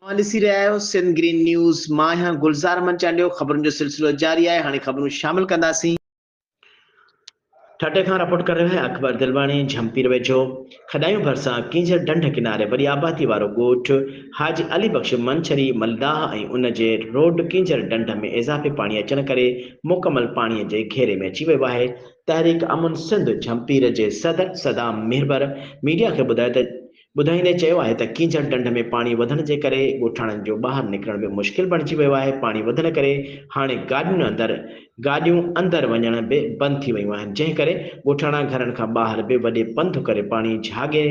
اوهان ڏسي رهيا آهيو سنڌ گرين نيوز مان آهيان گلزار امن چانڊيو خبرن جو سلسلو جاري آهي هاڻي خبرون شامل ڪنداسين. ٺٽي کان رپورٽ ڪري رهيو آهي اڪبر دلواڻي جهمپير ويجهو کڏايون ڀرسان ڪينجهر ڍنڍ ڪناري وڏي آبادي وارو ڳوٺ حاجي علي بخش منڇري ملداح ۽ ان جي روڊ ڪينجهر ڍنڍ ۾ اضافي پاڻي اچڻ ڪري مڪمل پاڻي جي گهيري ۾ اچي ويو آهي تحريڪ امن سنڌ جهمپير جي صدر صدام مهربر ميڊيا کي ٻڌايو ته ٻڌائيندي چيو آهي ته ڪينجهر ڍنڍ ۾ پاڻي وڌڻ جي ڪري ڳوٺاڻن جو ٻاهر نڪرڻ به مشڪل بڻجي ويو آهي، پاڻي وڌڻ ڪري هاڻي گاڏيون اندر گاڏيون اندر وڃڻ به بند ٿي ويون آهن، جنهن ڪري ڳوٺاڻا گهرن کان ٻاهر به وڏي پنڌ ڪري پاڻي جهاڳي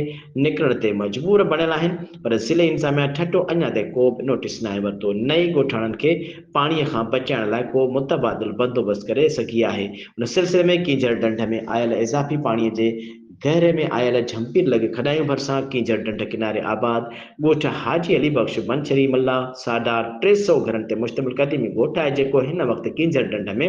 نڪرڻ تي مجبور بڻيل آهن پر ضلعي انتظاميا ٺٽو اڃا تائين ڪو به نوٽيس ناهي ورتو نه ئي ڳوٺاڻن کي پاڻي کان بچائڻ لاء ڪو متبادل بندوبست ڪري سگهي آهي، ان سلسلي ۾ ڪينجهر ڍنڍ ۾ آيل اضافي پاڻي جي گهري ۾ آيل جهمپير لڳ کڏايون ڀرسان ڪينجهر ڍنڍ ڪناري آباد ڳوٺ حاجي علي بخش بنڇري ملاح ساڍار ٽي سئو گهرن تي مشتمل قديمي ڳوٺ آهي جيڪو هن وقت ڪينجهر ڍنڍ ۾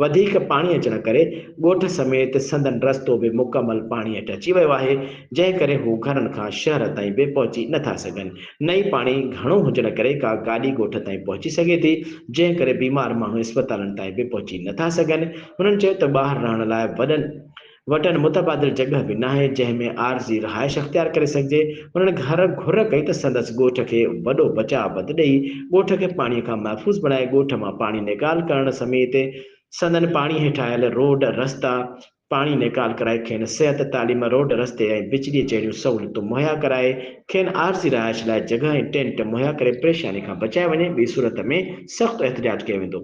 وڌيڪ پاڻي اچڻ ڪري ڳوٺ سميت سندن رستو به مڪمل پاڻي هيٺ اچي ويو آهي جنهن ڪري هو گهرن کان شهر تائين به پهچي نه ٿا سگهن نه ئي پاڻي گهڻو هجڻ ڪري ڪا گاڏي ڳوٺ تائين پهچي سگهي ٿي جنهن ڪري بيمار ماڻهو اسپتالن تائين به پهچي نه ٿا سگهن هنن چيو ته ٻاهر رهڻ لاء وڏن وٽن متبادل جڳهه به ناهي، جنهن ۾ عارضي رهائش اختيار ڪري سگهجي. هنن گهر گهر ڪئي ته سندس ڳوٺ کي وڏو بچاء بند ڏئي، ڳوٺ کي پاڻيء کان محفوظ بڻائي، ڳوٺ مان پاڻي نيڪال ڪرڻ سميت سندن پاڻي هيٺ آيل روڊ، رستا، پاڻي نيڪال ڪرائي کين صحت، تعليم، روڊ، رستي ۽ بجليء جهڙيون سهولتون مهيا ڪرائي، کين عارضي رهائش لاء جڳهه ۽ ٽينٽ مهيا ڪري پريشانيء کان بچايو وڃي، ٻي صورت ۾ سخت احتجاج ڪيو ويندو.